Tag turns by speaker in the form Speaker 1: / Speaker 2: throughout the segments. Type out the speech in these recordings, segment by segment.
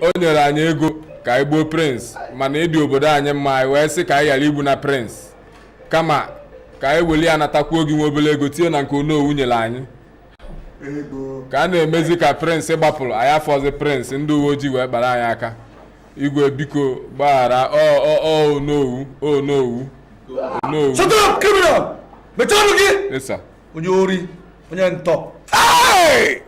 Speaker 1: o nyere anyị ego ka anyị gbuo prens mana ịdị obodo anyị mma anyị wee sị ka anyị ghara igbu na prens kama ka anyị weli ya natakwuo gị nwa obere ego tinye na nke onowu nyere anyị ka a na-emezi ka prens gbapụrụ anyị afụzi prens ndị uwe ojii wee kpara anyị aka igwe biko gbaghara onowu onowu onowu
Speaker 2: onye ori onye ntọ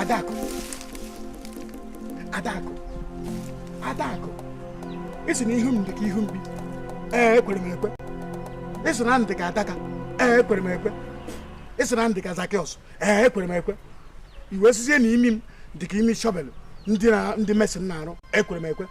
Speaker 3: Adakụ Adakụ Adakụ ị sị na ihu m dị ka ihu mbe ee ekwere m ekwe ị sị na m dị ka adaka ee ekwere m ekwe ị sị na m dị ka zakiọs ee ekwere m ekwe i wee sịzie na imi m dị ka imi shọvelụ ndị mesin na-arụ ekwere m ekwe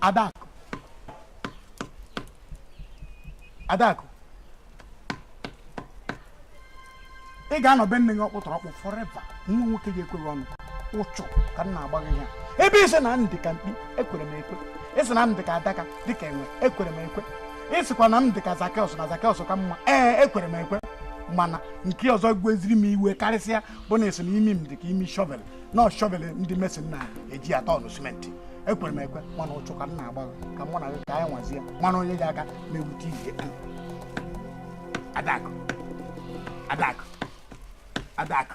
Speaker 3: Adakụ Adakụ ị ga-anọ be nne gị ọkpụtọrọkpụ forever nwa nwoke ga-ekwe gị ọnụ ụchụ ka m na-agba gị ya ebe ị sị na m dị ka mkpi ekwere m ekwe ị sị na m dị ka adaka dịka enwe ekwere m ekwe ị sịkwa na m dị ka zakeọs na zakeọs ka mma ee ekwere m ekwe mana nke ọzọ weziri m iwe karịsịa bụ na ị sị na imi m dị ka imi shọvel na ọ shọvel ndị mesin na-eji atọ ọnụ simenti ekwere m ekwe mana ụchụ ka m na-agba ka mụ na gị ka anyị nwazie mana onye ji aka na-ewute ihe adakụ adakụ adakụ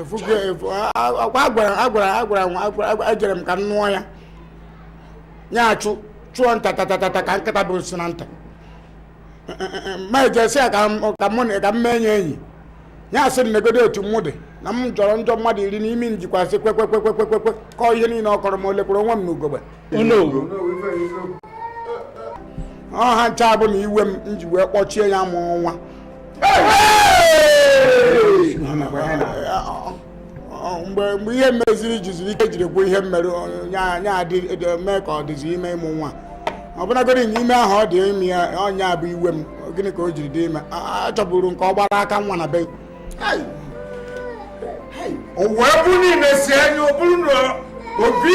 Speaker 3: efugo efu a- a- akwa agwara agwara agwara nwa agwara agwara- ejere m ka m nụọ ya ya achụ chụọ nta tatatata ka nkịta bu isi na nta ma ejesi ya ka m- ka mụ na- ka m mee ya enyi ya asị m negodo otu mụ dị na m jọrọ njọ mmadụ iri n'imi m jikwasị kwekwekwekwekwekwe kọọ ihe niile ọ kọrọ mụ elekwuru onwe m n'ugogbe ọ ha ncha bụ na iwe m m ji wee kpọchie ya ịmụ nwa mgbe mgbe ihe meziri jiziri ike jiri kwuo ihe mere ya mee ka ọ dịzi ime ịmụ nwa ọbụlagodi na ime ahụ ọ dị ime ya ọ nya bụ iwe m gịnị ka o jiri dị ime achọburu nke ọ gbara aka nwa na be
Speaker 4: o wee bụ niile si anya ọ bụrụ na obi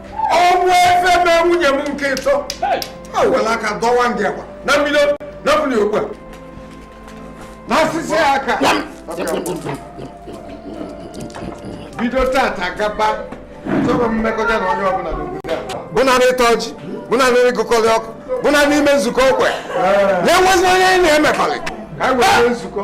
Speaker 4: ọnwụ efe mee nwunye m nke ịtọ o were aka dọwa ndị agwa na mmiri na mmiri okwu a na asịsị aka bido tata gaba chọrọ mmekọta na onye ọbụla n'obodo a bụ na ịta ọjị bụ na ịgụkọrị ọkụ bụ na ime nzukọ okwe na-enwezi onye anyị na-emekọrị ka anyị nwee nzukọ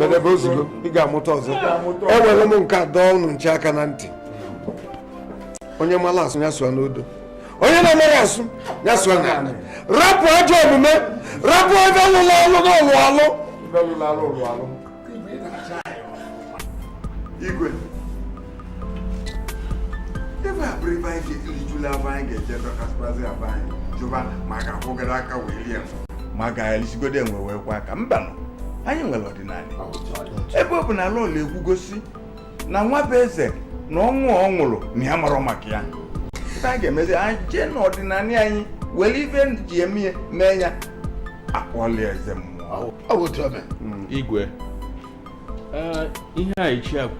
Speaker 4: bedebe ozugbo ị ga-amụta ọzọ enwere m nke a dọọ unu ncha aka na ntị onye mara asụ ya sụọ n'odo onye na-amaghị asụ ya sụọ n'ana rapụ ajọ omume rapụ ife lụrụ alụ na ọlụ alụ igwe ebe a bụrụ ebe anyị ga-elijula ebe anyị ga-eje dọkasịkwazi aba anyị jụba ma a ga-akwọgodo aka wee lie ma a ga-elisigodo enwe wee kwọọ aka mbanụ anyị nwere ọdịnala ebe ọ bụ na lọlọ ekwugo sị na nwabụeze na ọnwụ ọ nwụrụ na ya amarọ maka ya ife a ga-emezi anyị jee n'ọdịnala anyị were ife e ji eme ya mee ya akpọọlụ ya eze mmụọ Ọ- ọ bụ otu
Speaker 5: ome igwe ee, ihe a ichie kwuru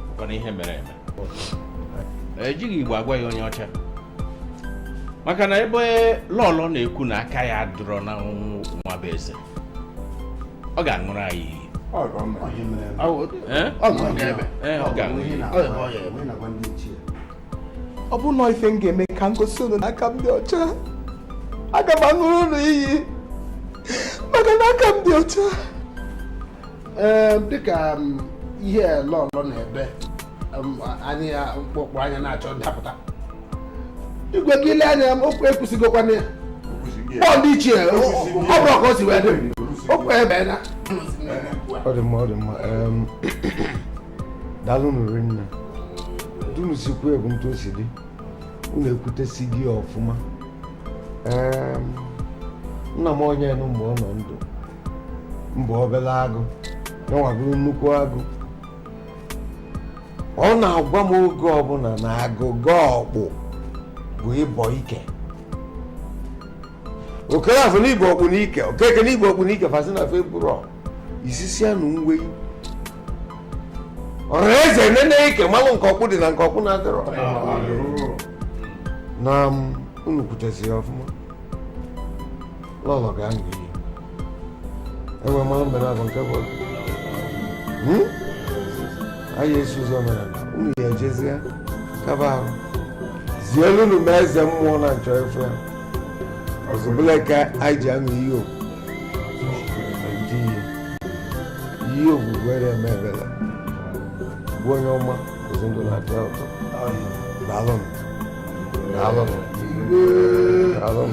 Speaker 5: bụkwa na ihe mere eme ejighị igbo agwa ya onye ọcha maka na ebe lọlọ na-ekwu na aka ya adịrọ na nwabụeze ọ ga-aṅụrụ anyị iyi Ọ bụ mma. Ọ ihe mere eme. Ọ bụ- Eh? ọ bụ ọhịa ebe. Eh, ọ ga-aṅụ Ọhịa iyi na- Ọ bụ ọhịa ebe. ọhịa na-agwa
Speaker 4: ndị ichie. ọ bụrụ na ọ ife m ga-eme ka m gosi unu na aka m dị ọcha aga m aṅụrụ unu iyi maka na aka m dị ọcha Ee,
Speaker 3: dịka m, ihe lọlọ na-ebe anyị ya mkpọkpọ anya na-achọ ndapụta igwe gị lee anya okwu ekwusịgokwa na ya ndị ichie ọ bụrụ ka o si wee dị okwu ebie na ọ
Speaker 4: dị mma ọ dị mma daalụ nụ rinne etu unu si kwuo bụ etu o si dị unu ekwutesịgo ọfụma nna m onye nụ mgbe ọ nọ ndụ m bụ obere agụ ya nwa bụrụ nnukwu agụ ọ na-agwa m oge ọbụla na agụgọ ọkpụ bụ ịbọ ike okereafọ na i bu ọkpụ n'ike okeke na i bu ọkpụ n'ike fa sị na fa eburọ isisi anụ nwe ọrụ eze nene ike malụ nke ọkpụ dị na nke ọkpụ na-adịrọ na m unu kwuteziri ọfụma lọlọ ga-aṅụ iyi enwe mmanụ mere abụ nke bụ hmm? anyị esi ụzọ mere unu ya ejezie kaba ahụ zielunu m eze mmụọ na m chọ ịfụ ya ọzọbụla ka anyị ji aṅụ iyi okwu ndị ihe iyi ogwugwu eme ebela bụ onye ọma ozi ndụ na-atọ ụtọ daalụ m daalụ m daalụ m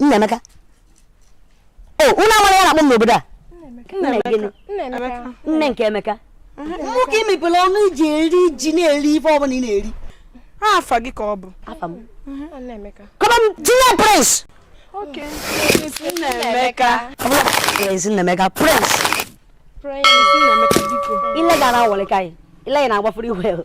Speaker 6: Nnaemeka o oh, unu amara ihe a na-akpọ m n'obodo
Speaker 7: a nne nke
Speaker 6: Emeka mụ ka i mepere ọnụ i ji eri ji na-eri ife ọbụla ị na-eri afa gị
Speaker 7: ka ọ bụ
Speaker 6: come
Speaker 8: on
Speaker 6: tinye
Speaker 7: Prince Nnaemeka
Speaker 6: Prince Nnaemeka
Speaker 7: Prince ile ga na-awọlị ka anyị
Speaker 6: ile ya na-agbafuru iwe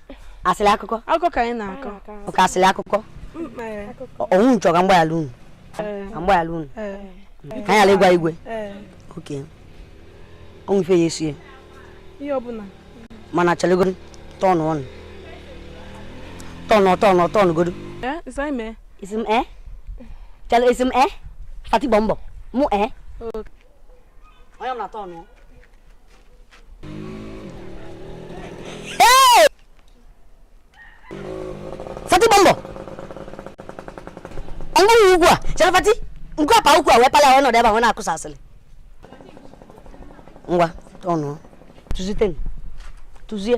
Speaker 7: asịrị
Speaker 6: akụkọ akụkọ ka anyị
Speaker 7: na-akọ oke asịrị
Speaker 6: akụkọ unu chọ ka m gbaghara unu ka m gbaghara unu ka anyị ghara ịgwa igwe okay o nwe ife ya esie
Speaker 7: mana
Speaker 6: chelugodu tọnụ ọnụ tọnụ tọnụ tọnụ godu isi m ee chale isi m ee fati bombo mụ ee onye m na tọnụ fati bombo onye nwe ukwu a chere fati nke ọ pa ukwu a wee pala wee nọdụ ebe a wee na-akụsa asịrị ngwa tọnụ tụzite tụzie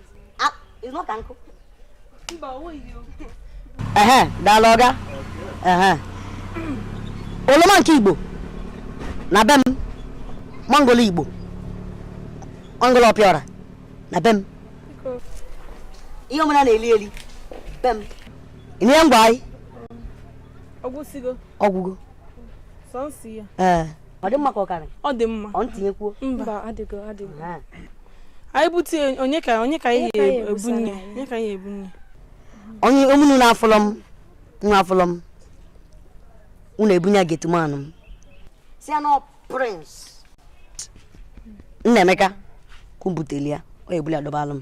Speaker 6: ehe daalụ oga ehe oroma nke igbo na be m mangolo igbo mangolo ọpịọra na be m ihe ọbụna na-eli eli be m ihe ngwa anyị
Speaker 7: ọ gwụgo ee ọ dị mma ka
Speaker 6: ọ karị ọ dị mma ọ m
Speaker 7: tinyekwuo
Speaker 6: mba ọ
Speaker 8: dịgo ọ
Speaker 7: dịgo anyị bute onye ka onye ka anyị ebunye onye ka anyị ebunye
Speaker 6: onye ọ bụlụ na afụlọ m unu afụlọ m unu ebunye gateman m sị ya na prince Nnaemeka kwu butelụ ya o buli dọbalụ m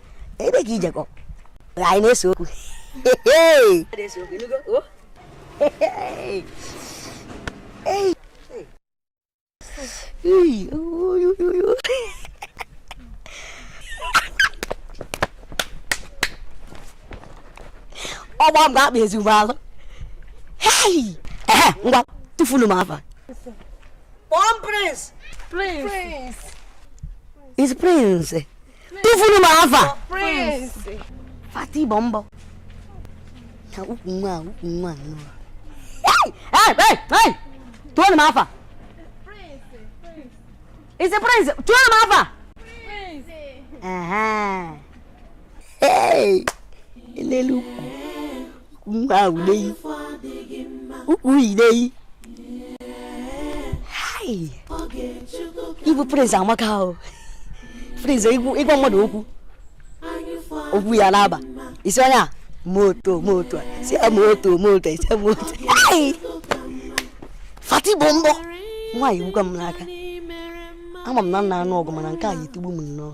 Speaker 6: ebe ka ị jekọ anyị na-ese okwu ọgba m ga-akpa ezigbo alụ ngwa tụfunu m afa Prince! Prince! Prince! It's Prince! tụfunu m afa fati bombo na ukwu nwa ukwu nwa nnọọ tụọnụ m afa it's Prince tụọnụ m afa elele ukwu ịbụ prince amaka ahụ prince ịgwa mmadụ okwu okwu ya na-aba isi onye a moto moto si ya moto moto ise moto fatty bombom nwaanyị gbukwa m n'aka ama m na m na-anụ ọgụ mana nke a ya-etigbu m nnọọ